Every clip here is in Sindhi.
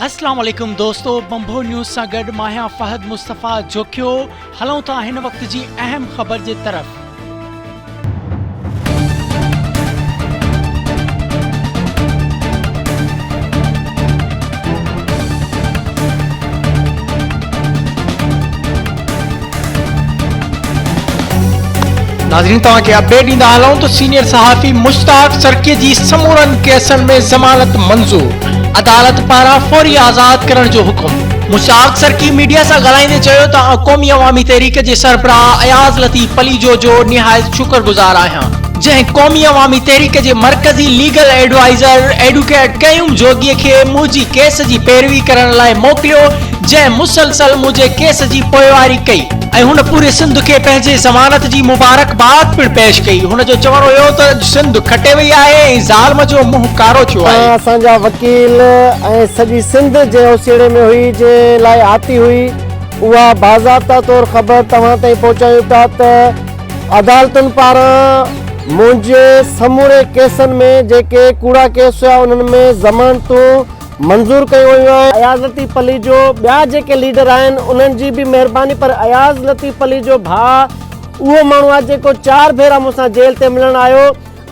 اسلام عليڪم دوستو بمبو نيوز سان گڏ ماهيان فهد مصطفيٰ جوکيو هلون ٿا هن وقت جي اهم خبر جي طرف ناظرين توهان کي اپڊيٽ ڏيندا هلون ته سينيئر صحافي مشتاق سرڪي جي سمورن ڪيسن ۾ ضمانت منظور عدالت پاران فوري آزاد ڪرڻ جو حڪم. مشتاق سرڪي ميڊيا سان ڳالهائيندي چيو ته آء قومي عوامي تحريڪ جي سربراهه اياز لطيف پليجو جو نهايت شڪر گذار آهيان جنهن قومي عوامي تحريڪ جي مرڪزي ليگل ايڊوائيزر ايڊوڪيٽ قيوم جوڳي کي منهنجي ڪيس جي پيروي ڪرڻ لاء موڪليو جنهن مسلسل منهنجي ڪيس جي پوئواري ڪئي ۽ هن پوري سنڌ کي پنهنجي ضمانت جي مبارڪباد پڻ پيش ڪئي. هن جو چوڻ هيو ته اڄ سنڌ کٽي وئي آهي ۽ ظالم جو منهن ڪارو ٿيو آهي. اسان جا وڪيل ۽ سڄي سنڌ جنهن اوسيئڙي ۾ هئي، جنهن لاء آتي هئي، اها باضابطه طور خبر توهان تائين پهچايون ٿا ته عدالتن پاران منهنجي سموري ڪيسن ۾ جيڪي ڪوڙا ڪيس هيا انهن ۾ ضمانتون منظور ڪيون ويون آهن اياز لطيف پليجو ٻيا جيڪي ليڊر آهن انهن جي به مهرباني پر اياز لطيف پليجو ڀاء اهو ماڻهو آهي جيڪو چار ڀيرا مون سان جيل تي ملڻ آيو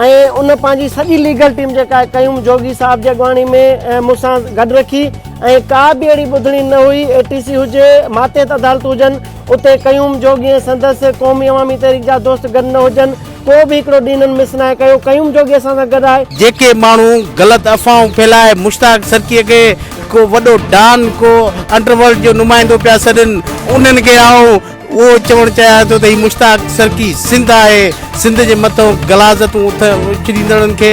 ۽ ان پنهنجي سڄي ليگل ٽيم جيڪا آهي قيوم جوڳي صاحب جي اڳواڻي ۾ مون سان گڏ رکي ۽ ڪا به اهڙي ٻڌڻي نه هئي اي ٽي سي هجي ماتحت عدالتون هجن اتي قيوم جوڳي ۽ سندس قومي عوامي تحريڪ جا دوست گڏ نه هجن ڪو به هڪڙو ڏينهن هنن مس ناهي ڪيو، قيوم جوڳي اسان سان گڏ آهي. جيڪي ماڻهو غلط افواهون ڦهلائي مشتاق سرڪيء کي ڪو وڏو ڊان، ڪو انڊر ورلڊ جو نمائندو پيا سڏين، انهن کي آئون اهو چوڻ چاهيان ٿو ته هي مشتاق سرڪي سنڌ آهي، سنڌ جي مٿئون غلاظتون اٿ اڇليندڙن کي